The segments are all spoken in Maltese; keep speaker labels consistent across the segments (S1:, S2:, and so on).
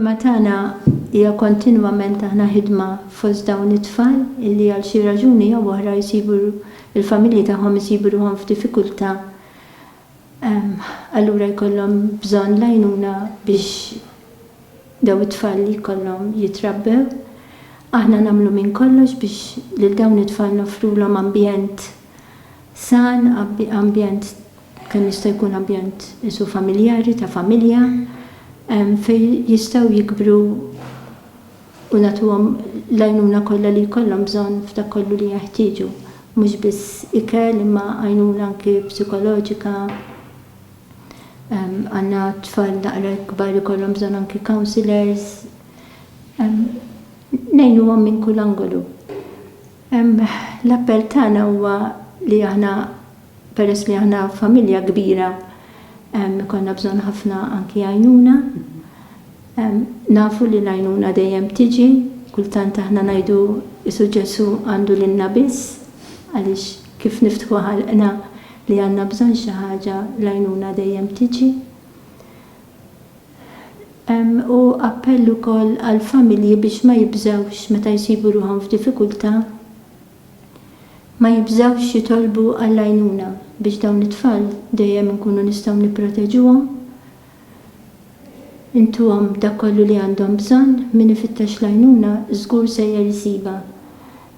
S1: Il-ħidma tagħna hija kontinwament aħna ħidma fost dawn it-tfal illi għal xi raġuni jew oħra jsibu l-familji tagħhom isibu ruħhom f'diffikultà allura jkollhom bżonn l-għajnuna biex dawn it-tfal li jkollhom jitrabbew. Aħna nagħmlu minn kollox biex lil dawn it-tfal noffrulhom ambjent san, ambjent kemm jista' jkun ambjent qisu familjari, ta' familja, fejn jistgħu jikbru u nagħtuhom l-għajnuna kollha li jkollhom bżonn f'dak kollu li jeħtieġu, mhux biss ikel imma għajnuna anki psikoloġika, għandna tfal naqra kbar ikollhom bżonn anki counsellors, ngħinuhom minn kull angolu. L-appell tagħna huwa li aħna, Peress li aħna familja kbira ikollna bżonn ħafna anki għajnuna. Nafu li l-għajnuna dejjem tiġi, kultant aħna ngħidu Qisu Ġesù għandu lilna biss, għaliex kif niftħu ħalqna li għandna bżonn xi ħaġa l-għajnuna dejjem tiġi. U appell ukoll għall-familji biex ma jibżgħux meta jsibu ruħhom f'diffikultà. ma jibżgħux jitolbu għall-għajnuna biex dawn it-tfal dejjem inkunu nistgħu nipproteġuhom, intuhom dak kollu li għandhom bżonn, min ifittex l-għajnuna żgur sejjer isibha.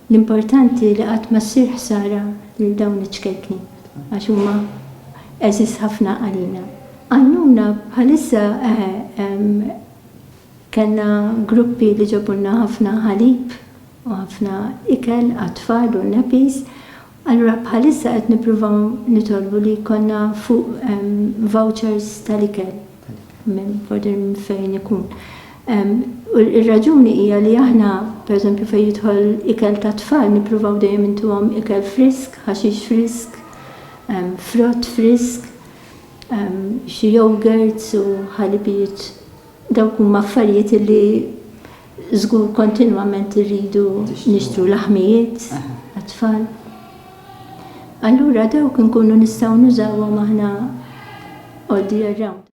S1: L-importanti li qatt ma ssir ħsara lil dawn iċ-ċkejkni għax huma għeżież ħafna għalina. Għajnuna bħalissa eħe hemm. Kellna gruppi li ġabulna ħafna ħalib u ħafna ikel għat-tfal u nappies. Allura bħalissa qed nippruvaw nitolbu li jkollna fuq vouchers tal-ikel minn border minn fejn ikun. U r-raġuni hija li aħna, pereżempju fejn jidħol ikel tat-tfal nippruvaw dejjem intuhom ikel frisk, ħaxix frisk, frott frisk, xi yogurts u ħalibijiet. Dawk huma affarijiet li żgur kontinwament irridu nixtru laħmijiet għat-tfal. Allura dawk inkunu nistgħu nużawhom aħna all the year round.